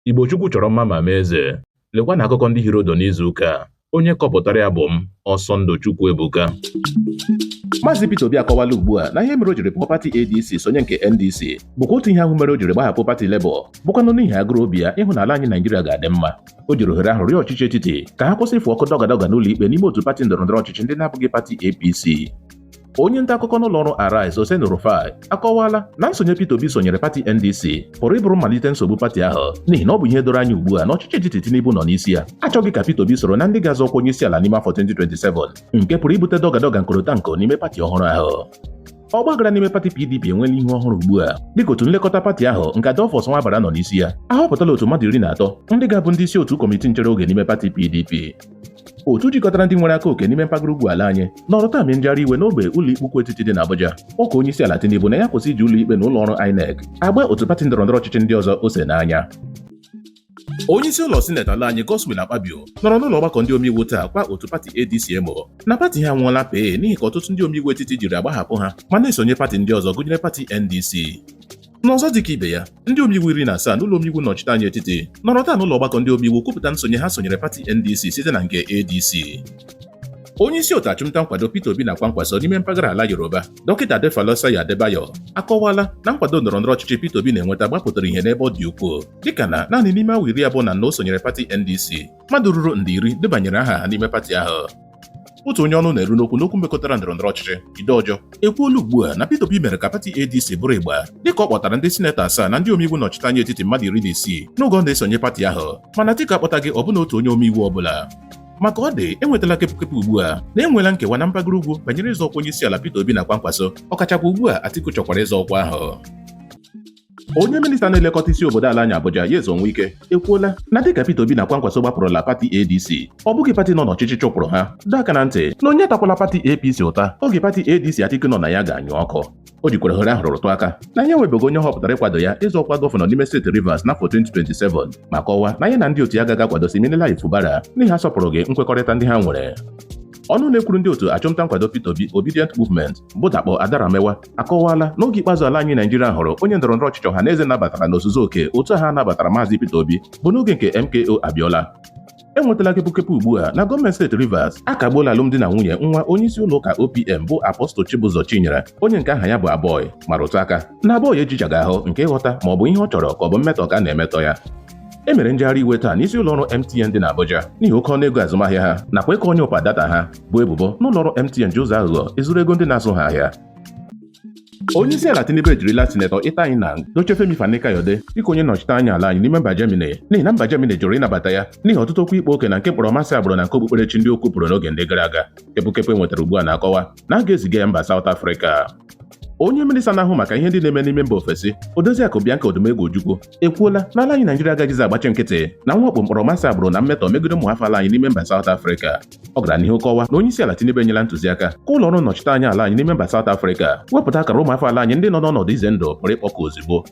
Igbo Chukwu chọrọ mma ma mee eze. Lekwa na akụkọ ndị hiri odo n'izu ụka a. Onye kọpụtara ya bụ m, Ọsọndụ Chukwu Ebuka. Maazị Peter Obi akọwala ugbu a na ihe mere o jiri pụọ pati ADC sonye nke NDC bụkwa otu ihe ahụ mere o jiri gbahapụ pati Labour bụkwanụ n'ihi agụrụ obi ya ịhụ na ala anyị Naijiria ga-adị mma o jiri ohere ahụ rịọ ọchịchị etiti ka ha kwụsị ịfụ ọkụ dọgadọga n'ụlọ ikpe n'ime otu pati ndọrọndọrọ ọchịchị ndị na-abụghị pati APC onye nta akụkọ n'ụlọ ọrụ Arise Oseni Rufai akọwaala na nsonye Peter Obi sonyere pati NDC pụrụ ịbụrụ mmalite nsogbu pati ahụ n'ihi na ọ bụ ihe doro anya ugbu a na ọchịchị etiti Tinubu nọ n'isi ya achọghị ka Peter Obi soro na ndị ga-azọ ọkwa onye isi ala n'ime afọ 2027 nke pụrụ ibute dọgadọga nkorotanko n'ime pati ọhụrụ ahụ ọgbaghara n'ime pati PDP enweela ihu ọhụrụ ugbu a dịka otu nlekọta pati ahụ nke Adolphus Nwabara nọ n'isi ya ahọpụtala otu mmadụ iri na atọ ndị ga-abụ ndị isi otu kọmitii nchere oge n'ime pati PDP otu jikọtara ndị nwere aka oke n'ime mpaghara ugwu ala anyị nọrọ taa mee njegharị iwe n'ogbe ụlọikpe ukwu etiti dị n'Abuja kpọkuo onye isi ala Tinubu na ya kwụsị iji ụlọikpe na ụlọ ọrụ INEC agba otu pati ndọrọndọrọ ọchịchị ndị ọzọ ose n'anya onye isi ụlọ sineti ala anyị Godswill Akpabio nọrọ n'ụlọ ọgbakọ ndị omeiwu taa kwaa otu pati ADC emo na pati ha anwụọla pee n'ihi ka ọtụtụ ndị omeiwu etiti jiri agbahapụ ha ma na-esonye pati ndị ọzọ gụnyere pati NDC N'ọzọ dịka ibe ya, ndị omeiwu iri na asaa n'ụlọ omeiwu nnọchite anya etiti nọrọ taa n'ụlọ ọgbakọ ndị omeiwu kwupụta nsonye ha sonyere pati NDC site na nke ADC. Onye isi otu achụmnta nkwado Peter Obi na Kwankwaso n'ime mpaghara ala Yoruba, Dọkịta Adefolaseye Adebayo akọwala na nkwado ndọrọ ndọrọ ọchịchị Peter Obi na-enweta gbapụtara ihe n'ebe ọ dị ukwuu dịka na naanị n'ime awa iri abụọ na anọ o sonyere pati NDC mmadụ ruru nde iri debanyere aha ha n'ime pati ahụ otu onye ọnụ na-eru n'okwu n'okwu mekọtara ndọrọndọrọ ọchịchị Jide Ojo ekwuola ugbu a na Peter Obi mere ka pati ADC bụrụ ịgba dịka ọ kpọtara ndị sinetọ asaa na ndị omeiwu nnọchite anya etiti mmadụ iri na isii n'oge ọ na-esonye pati ahụ mana Atiku akpọtaghị ọbụna otu onye omeiwu ọbụla maka ọ dị enwetala kepụkepụ ugbu a na e nweela nkewa na mpaghara ugwu banyere ịzọ ọkwa onye isi ala Peter Obi na Kwankwaso ọkachakwa ugbu a Atiku chọkwara ịzọ ọkwa ahụ onye minista na-elekọta isi obodo ala anyị Abuja Nyesom Wike ekwuola na dịka Peter Obi na Kwankwaso gbapụrụla pati ADC ọ bụghị pati nọ n'ọchịchị chụpụrụ ha dọọ aka na ntị na onye atakwala pati APC ụta oge pati ADC Atiku nọ na ya ga-anyụ ọkụ o jikwara ohere ahụ rụtụ aka na ya enwebeghị onye ọ họpụtara ịkwado ya ịzọ ọkwa gọvanọ n'ime steeti Rivers n'afọ 2027 ma kọwaa na ya na ndị otu ya agaghị akwado Siminalayi Fubara n'ihi asọpụrụghị nkwekọrịta ndị ha nwere ọnụ na-ekwuru ndị otu achụmnta nkwado Peter Obi Obidient Movement bụ Dapo Adaramewa akọwaala na oge ikpeazụ ala anyị Naijiria hụrụ onye ndọrọ ndọrọ ọchịchị ọha na eze nabatara n'ozuzu oke otu ha nabatara Maazị Peter Obi bụ n'oge nke MKO Abiola enwetala kepụkepụ ugbu a na gọọmenti steeti Rivers akagbuola alụmdi na nwunye nwa onye isi ụlọ ụka OPM bụ Apostle Chibuzor Chinyere onye nke aha ya bụ Aboy ma rụtụ aka na Aboy ejichaghị ahụ nke ịghọta ma ọ bụ ihe ọ chọrọ ka ọ bụ mmetọ ka a na-emetọ ya e mere njegharị iwe taa n'isi ụlọ ọrụ MTN dị n'Abuja n'ihi oke ọnụ ego azụmahịa ha nakwa ịkọ ọnyụpa data ha bụ ebubo n'ụlọọrụ MTN ji ụzọ aghụghọ ezuru ego ndị na-azụ ha ahịa onye isi ala Tinubu ejirila sinetọ Ita Enang dochie Femi Fani-Kayode dịka onye nnọchite anya ala anyị n'ime mba Germany n'ihi na mba Germany jụrụ ịnabata ya n'ihi ọtụtụ okwu ịkpa oke na nke mkpọrọmasị agbụrụ na nke okpukperechi ndị o kwupụrụ n'oge ndị gara aga kepụkepụ e nwetara ugbu a na-akọwa na a ga-eziga ya mba South Africa onye minista na-ahụ maka ihe ndị na-eme n'ime mba ofesi Odoziakụ Bianca Odumegwu Ojukwu ekwuola na ala anyị Naijiria agaghịzi agbachi nkịtị na mwakpo mkpọrọmasị agbụrụ na mmetọ megide ụmụafọ ala anyị n'ime mba South Africa ọ gara n'ihu kọwa na onye isi ala Tinubu enyela ntụziaka ka ụlọ ọrụ nnọchite anya ala anyị n'ime mba South Africa wepụta akara ụmụafọ ala anyị ndị nọ n'ọnọdụ ize ndụ pụrụ ịkpọku ozugbo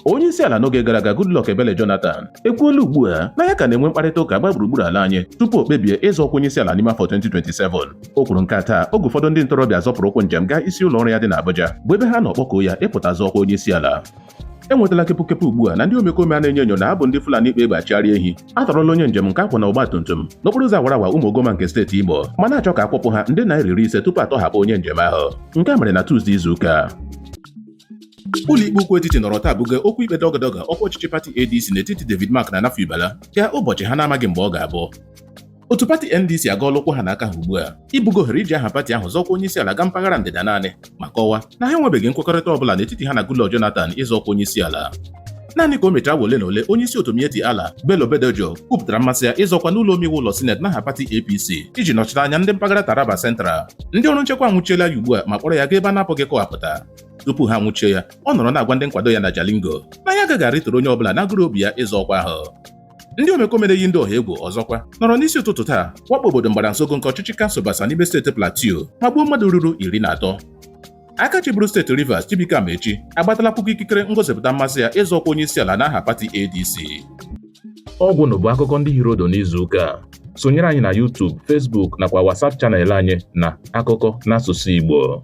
onye isi ala n'oge gara aga Goodluck Ebele Jonathan ekwuola ugbu a na ya ka na-enwe mkparịta ụka gbaa gburugburu ala anyị tupu o kpebie ịzọ ọkwa onye isi ala n'ime afọ 2027 o kwuru nke a taa oge ụfọdụ ndị ntorobịa zọpụrụ ụkwụ njem gaa isi ụlọ ọrụ ya dị n'Abuja bụ ebe ha na-akpọku ya ịpụta zọ ọkwa onye isi ala enwetala kepụkepụ ugbu a na ndị omekome a na-enyo enyo na ha bụ ndị Fulani kpa egbe achịgharị ehi atọrọla onye njem nke a kwọ na ọgba tum tum n'okporo ụzọ awara awa Ụmụguma nke steeti Imo ma na-achọ ka a kwụpụ ha nde naira iri ise tupu atọhapụ onye njem ahụ nke a mere na Tuzdee izu ụka a ụlọikpe ukwu etiti nọrọ taa buga okwu ikpe dọgọdọgọ ọkwa ọchịchị pati ADC n'etiti David Mark na Nafiu Bala gaa ụbọchị ha na-amaghị mgbe ọ ga-abụ otu pati ndc agọọla ụkwụ ha na aka ha ugbu a ibuga ohere iji aha pati ahụ zọ ọkwa onye isi ala gaa mpaghara ndịda naanị ma kọwa na ha enwebeghị nkwekọrịta ọbụla n'etiti ha na Goodluck Jonathan ịzọ ọkwa onye isi ala naanị ka o mechara awa ole na ole onye isi otu Miyetti Allah Bello Bodejo kwupụtara mmasị ya ịzọ ọkwa n'ụlọ omeiwu ụlọ sineti n'aha pati APC iji nọchite anya ndị mpaghara Taraba Central ndị ọrụ nchekwa anwụchiela ya ugbu a ma kpọrọ ya gaa ebe a na-apụghị ịkọwapụta tupu ha nwụchie ya ọ nọrọ na-agwa ndị nkwado ya na Jalingo na ya agaghị arịturu onye ọbụla n'agụrụ obi ya ịzọ ọkwa ahụ ndị omekome na-eyi ndị ọha egwu ọzọkwa nọrọ n'isi ụtụtụ taa wakpo obodo Ngbra Zongo nke ọchịchị kansụl Bassa n'ime steeti Plateau ma gbuo mmadụ ruru iri na atọ aka chịburu steeti Rivers Chibuike Amaechi agbatala akwụkwọ ikikere ngosipụta mmasị ya ịzọ ọkwa onye isi ala n'aha pati ADC ọ gwụna bụ akụkọ ndị hiri ụdụ n'izu ụka a sonyere anyị na YouTube Facebook nakwa WhatsApp channel anyị na akụkọ n'asụsụ Igbo